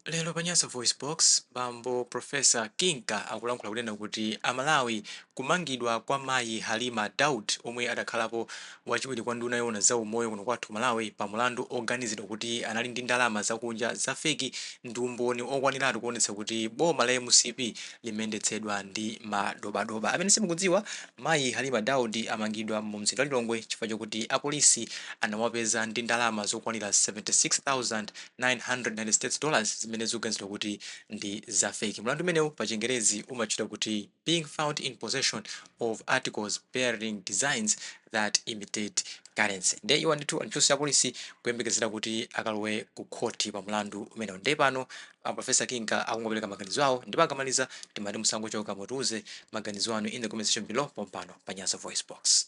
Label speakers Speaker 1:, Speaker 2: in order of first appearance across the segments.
Speaker 1: Lero pa Nyasa VoiceBox, bambo Prof. Kinka akulankhula kunena kuti a Malawi kumangidwa kwa mayi Halima Daud omwe adakhalapo wachiwiri kwa nduna yoona za umoyo kuno kwathu ku Malawi pa mulandu oganizidwa kuti anali ndi ndalama zakunja za feki ndi umboni okwaniratu kuonetsa kuti boma la mcp limendetsedwa ndi madobadoba. Amene simukudziwa, mayi Halima Daud amangidwa mu mzinda wa Lilongwe chifukwa chokuti apolisi anawapeza ndi ndalama zokwanira 76,000. 900 States dollars zimene zikuganizidwa kuti ndi za feki. Mlandu umenewu pachingerezi umatchedwa kuti being found in possession of articles bearing designs that imitate currency. Nde iwo ndithu m'chitokosi cha apolisi kuyembekezera kuti akalowe ku khoti pa mlandu umenewu. Nde pano a Professor Kinka akungopereka maganizo awo ndipo akamaliza timati musangochoka mutiuze maganizo anu in the comment section below pompano pa Nyasa VoiceBox.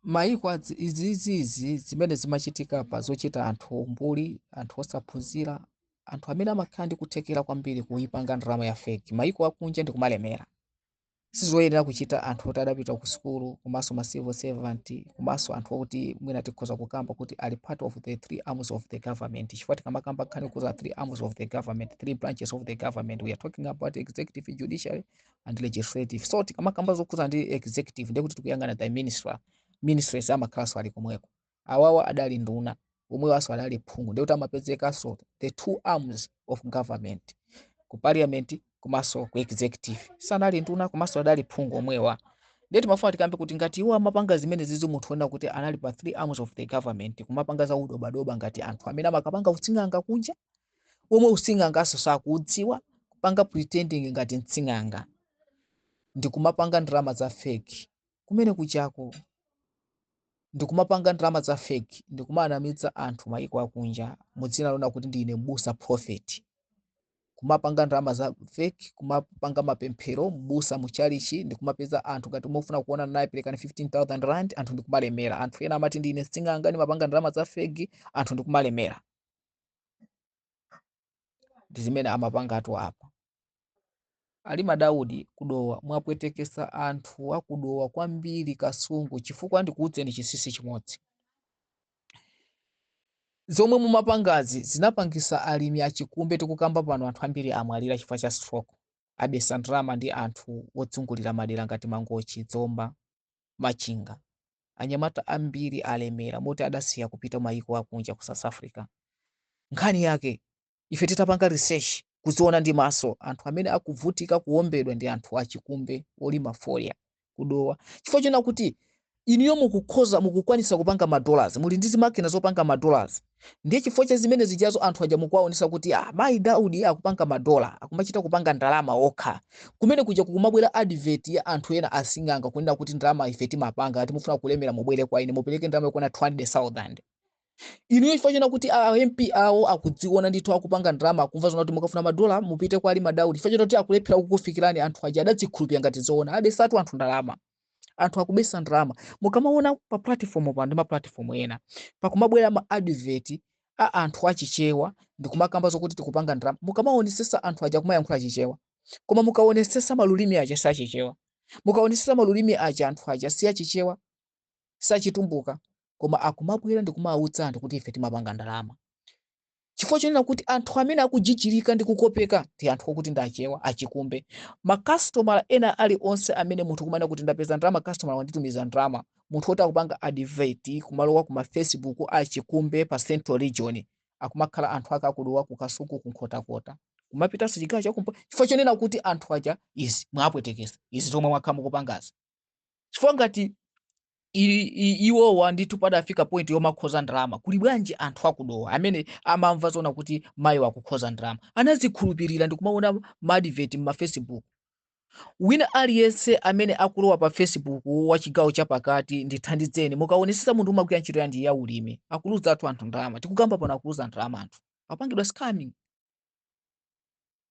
Speaker 2: mayiko izizi zimene zimachitika pa zochita anthu ombuli anthu osaphunzira anthu amene amakhala ndi kuthekera kwambiri kuipanga ndalama ya feki mayiko akunja ndi kumalemera sizoyenera kuchita anthu oti adapita ku sukulu komanso ma civil servant komanso anthu okuti mwina tikhoza kukamba kuti ali part of the three arms of the government chifukwa tikamakamba nkhani yokhudza three arms of the government three branches of the government we are talking about executive judiciary and legislative so tikamakamba zokhudza ndi executive ndiye kuti tikuyang'ana the minister ministries amakhalanso ali komweko awawa adali nduna omwewanso adali phungu ndiye kuti amapezekanso the two arms of government ku parliament komanso ku executive sanali nduna komanso adali phungu omwewa ndiye timafuna tikambe kuti ngati iwo amapanga zimene zizi munthu wonena kuti anali pa three arms of the government kumapanga za udobadoba ngati anthu amene amakapanga utsing'anga kunja omwe using'anganso sakuudziwa kupanga pretending ngati mtsing'anga ndikumapanga ndalama za fake kumene kujako ndikumapanga ndalama za fake ndikumanamiza anthu mayiko akunja mudzina lonena kuti ndine mbusa prophet kumapanga ndalama za fake kumapanga mapemphero mbusa muchalichi ndikumapeza anthu ngati mufuna kuonana naye perekani 15000 rand anthu ndikumalemera anthu ena amati ndine mtsing'anga ndimapanga ndalama za fake anthu ndikumalemera ndi zimene amapangatu apa Halima Daud ku Dowa mwapwetekesa anthu aku Dowa kwambiri Kasungu chifukwa ndikuudzeni chinsinsi chimodzi zomwe mumapangazi zinapangisa alimi achikumbe tikukamba pano anthu ambiri amwalira chifukwa cha stroke abetsa ndalama ndi anthu odzungulira madera ngati Mangochi Zomba Machinga, anyamata ambiri alemera moti adasiya kupita mayiko akunja ku South Africa. Nkhani yake, ife titapanga research, kuziona ndi maso, anthu amene akuvutika kuombedwa ndi anthu achikumbe olima fodya ku Dowa chifukwa chonena kuti inuyo mukukhoza, mukukwanitsa kupanga ma dollars, muli ndi zimakina zopanga ma dollars, Ndiye chifukwa cha zimene zijazo anthu aja mukuwaonesa kuti ah, mayi Daudi akupanga madola, akumachita kupanga ndalama okha. Kumene kuja kukumabwera advert ya anthu ena asing'anga kunena kuti ndalama ife timapanga, ngati mufuna kulemera mubwere kwa ine mupereke ndalama yokwana 200,000. Inuyo chifukwa chona kuti a MP awo akuziona ndithu akupanga ndalama, akumva zona kuti mukafuna madola mupite kwa Halima Daudi. Chifukwa choti akulephera kukufikirani anthu aja adazikhulupirira ngati zoona, abesatu anthu ndalama. anthu akubesa ndalama mukamaona pa platform pano ndi ma platform ena pakumabwera ma advert a anthu achichewa ndikumakamba zokuti tikupanga ndalama mukamaonesesa anthu aja akumayankhula chichewa koma mukaonesesa malulimi aja si achichewa mukaonesesa malulimi aja anthu aja si achichewa sachitumbuka koma akumabwera ndikumauza anthu kuti ife timapanga ndalama chifukwa chonena kuti anthu amene akujijirika ndi kukopeka ndi anthu okuti ndi achewa achikumbe makasitomala ena ali onse amene munthu kumanena kuti ndapeza ndalama kasitomala wanditumiza ndalama munthu woti akupanga adiveti kumalowa ku mafacebook achikumbe pa central region akumakhala anthu ake aku Dowa ku kasungu ku nkhotakota kumapitanso chigawo chakumpo chifukwa chonena kuti anthu aja izi mwapwetekesa izi zomwe mwakhala mukupangazi chifukwa ngati iwowa ndithu padafika point yomakhoza ndalama kuli bwanji anthu aku Dowa amene amamva zona kuti mayiwa akukhoza ndalama anazikhulupirira ndikumaona maadiveti mmafacebook wina aliyense amene akulowa pa facebook wa chigawo chapakati ndithandizeni mukaonesesa munthu umagwira ntchito yanji ya ulimi akuluza athu anthu ndalama tikukamba pano akuluza ndalama anthu apangidwa scamming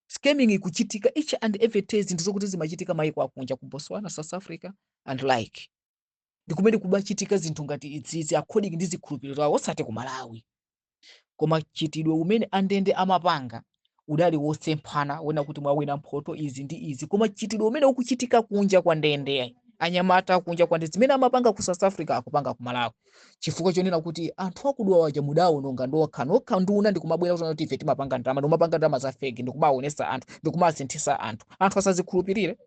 Speaker 2: scamming ikuchitika each and every day zinthu zokuti zimachitika mayiko akunja ku botswana south africa and like ndi kumene kumachitika zinthu ngati izizi according ndi zikhulupiriro zawo osati ku malawi koma chitidwe umene andende amapanga udali wosemphana ena kuti mwawina mphoto izi ndi izi koma chitidwe umene ukuchitika kunja kwa ndende anyamata kunja kwa ndende zimene amapanga ku south africa akupanga ku malawi chifukwa chonena kuti anthu aku Dowa aja mudawononga nokha nokha nduna ndikumabwera kuzana kuti ife timapanga ndalama ndikumapanga ndalama za fake ndikumaonesa anthu ndikumasinthisa anthu anthu asazikhulupirire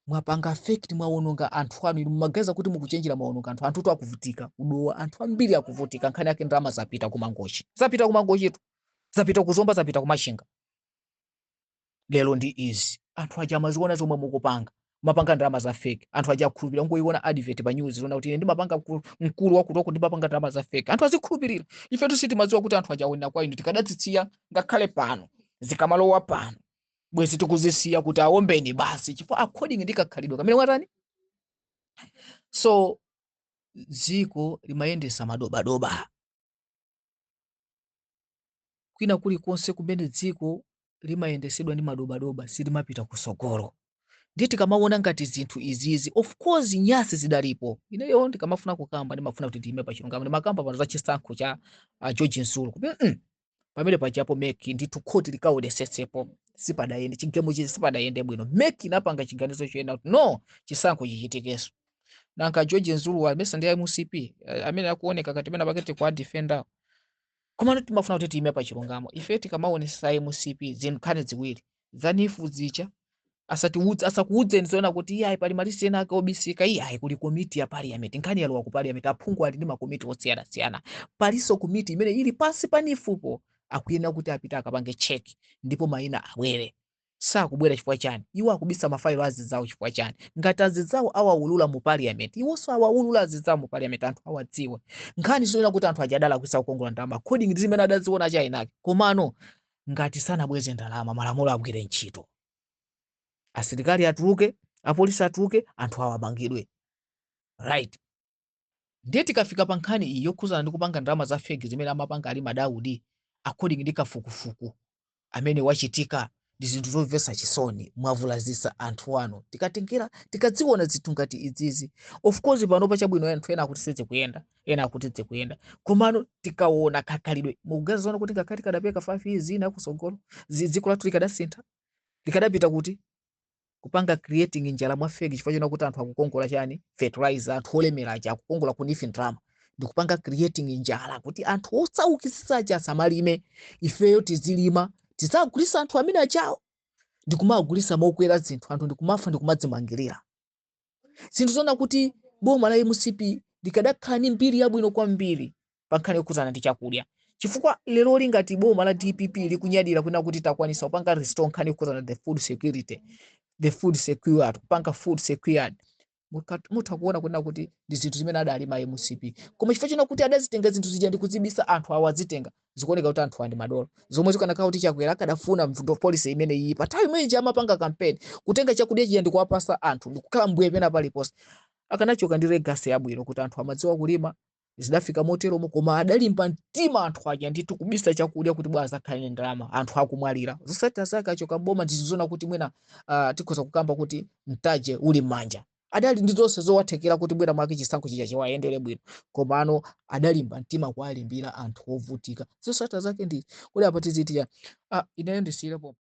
Speaker 2: mwapanga fake mwawononga anthu anu inu mumaganiza kuti mukuchenjera mwawononga anthu anthutu akuvutika ku Dowa anthu ambiri akuvutika nkhani yake ndalama zapita kumangochi zapita kumangochitu zapita kuzomba zapita kumachinga lero ndi izi anthu aja amaziona zomwe mukupanga mwapanga ndalama za fake anthu aja akhulupirira ngoiona advert pa news zona kuti ine ndimapanga mkulu- mkulu wakutoku ndimapanga ndalama za fake anthu azikhulupirira ifetu sitimadziwa kuti anthu aja aonera kwa inu tikadazisiya ngakhale pano zikamalowa pano bwezi tikuzisiya kuti aombene basi chifukwa according ndi kakhalidwe kamene mwatani so dziko limayendesa madobadoba kwina kulikonse kumene dziko limayendesedwa ndi madobadoba silimapita kusogolo ndiye tikamawona ngati zinthu izizi of course nyasi zidalipo ineyo ndikamafuna kukamba ndimafuna kuti ndiyime pa chilungamo ndimakamba pano za chisankho cha uh, george zulu kuti mm, pamene pajapo meki ndithu khoti likaonesetsepo sipadayende chigemo chizi sipadayende bwino meki inapanga chiganizo chonena kuti no chisankho chichitikenso nanga George Zulu wa mesa ndi MCP eh, amene akuoneka ngati pena pakete kwa defender komano timafuna kuti tiime pa chilungamo ife tikamaonesa MCP zinkhani ziwiri zanifu zicha asatiudze asakuudzeni zoona kuti iye ayi pali malisi ena ake obisika iye ayi kuli komiti ya parliament nkhani yalowa ku parliament aphungu ali ndi makomiti osiyanasiyana palinso komiti imene ili pansi pa nifupo akuyenera kuti apite akapange cheki ndipo mayina abwere sakubwera chifukwa chani iwo akubisa mafailo azidzawo chifukwa chani ngati azidzawo awaulula mu parliament iwonso awaulula azidzawo mu parliament anthu awadziwe nkhani zonena kuti anthu aja adalakwisa kukongola ndalama according ndi zimene adaziona chinachake komano ngati sanabweze ndalama malamulo agwire ntchito asilikali atuluke apolisi atuluke anthu awamangidwe right Ndiye tikafika pa nkhani iyi yokhuzana ndi kupanga ndalama za fake zimene amapanga Alima Daudi according ndi kafukufuku amene wachitika ndi zinthu zomvesa chisoni mwavulazisa anthu anu tikatengera tikadziona zinthu ngati izizi of course pano chabwino anthu ena akuti sizikuyenda ena akuti zikuyenda komano tikaona kakhalidwe mukamaziona kuti ngakhale tikadapereka 5 years ina kusogolo dziko lathu likadasintha likadapita kuti kupanga creating njala mwa fake chifukwa chonena kuti anthu akukongola chani fertilizer anthu olemera aja akukongola ku nifu ndalama ndikupanga creating njala kuti anthu osaukisisa aja asamalime ifeyo tizilima tidzagulisa anthu amene ajawo ndikumagulisa mokwera zinthu anthu ndikumafa ndikumadzimangirira zinthu zonena kuti boma la mcp likadakhala ndi mbiri yabwino kwambiri pa nkhani yokhudzana ndi chakudya chifukwa lero lingati boma la dpp likunyadira kunena kuti takwanisa kupanga restore nkhani yokhudzana the food security the food secured kupanga food secured mutha kuona kunena kuti ndi zinthu zimene adalima mcp koma chifukwa chonena kuti adazitenga zinthu zija ndi kuzibisa anthu awo azitenga zikuoneka kuti anthu aja ndi madolo zomwe zikanakhala kuti chakwera akadafuna mvuto policy imene ija pa nthawi imene ija amapanga kampeni kutenga chakudya chija ndikuwapasa anthu ndikukhala mbuye pena paliponse akanachoka ndi legacy yabwino kuti anthu amadziwa kulima zidafika moteromo koma adalimba mtima anthu aja ndithu kubisa chakudya kuti bwa azakhale ndi ndalama anthu akumwalira zosatira zake achoka boma ndi zoona kuti mwina uh, tikhoza kukamba kuti mtaje uli m'manja adali ndi zonse zowathekera kuti mwina mwake chisankho chija chiwayendere bwino komano adalimba mtima kuwalimbira anthu ovutika zosatira zake ndiye kodi apa tiziti chani ah, ineyo ndisiyirepo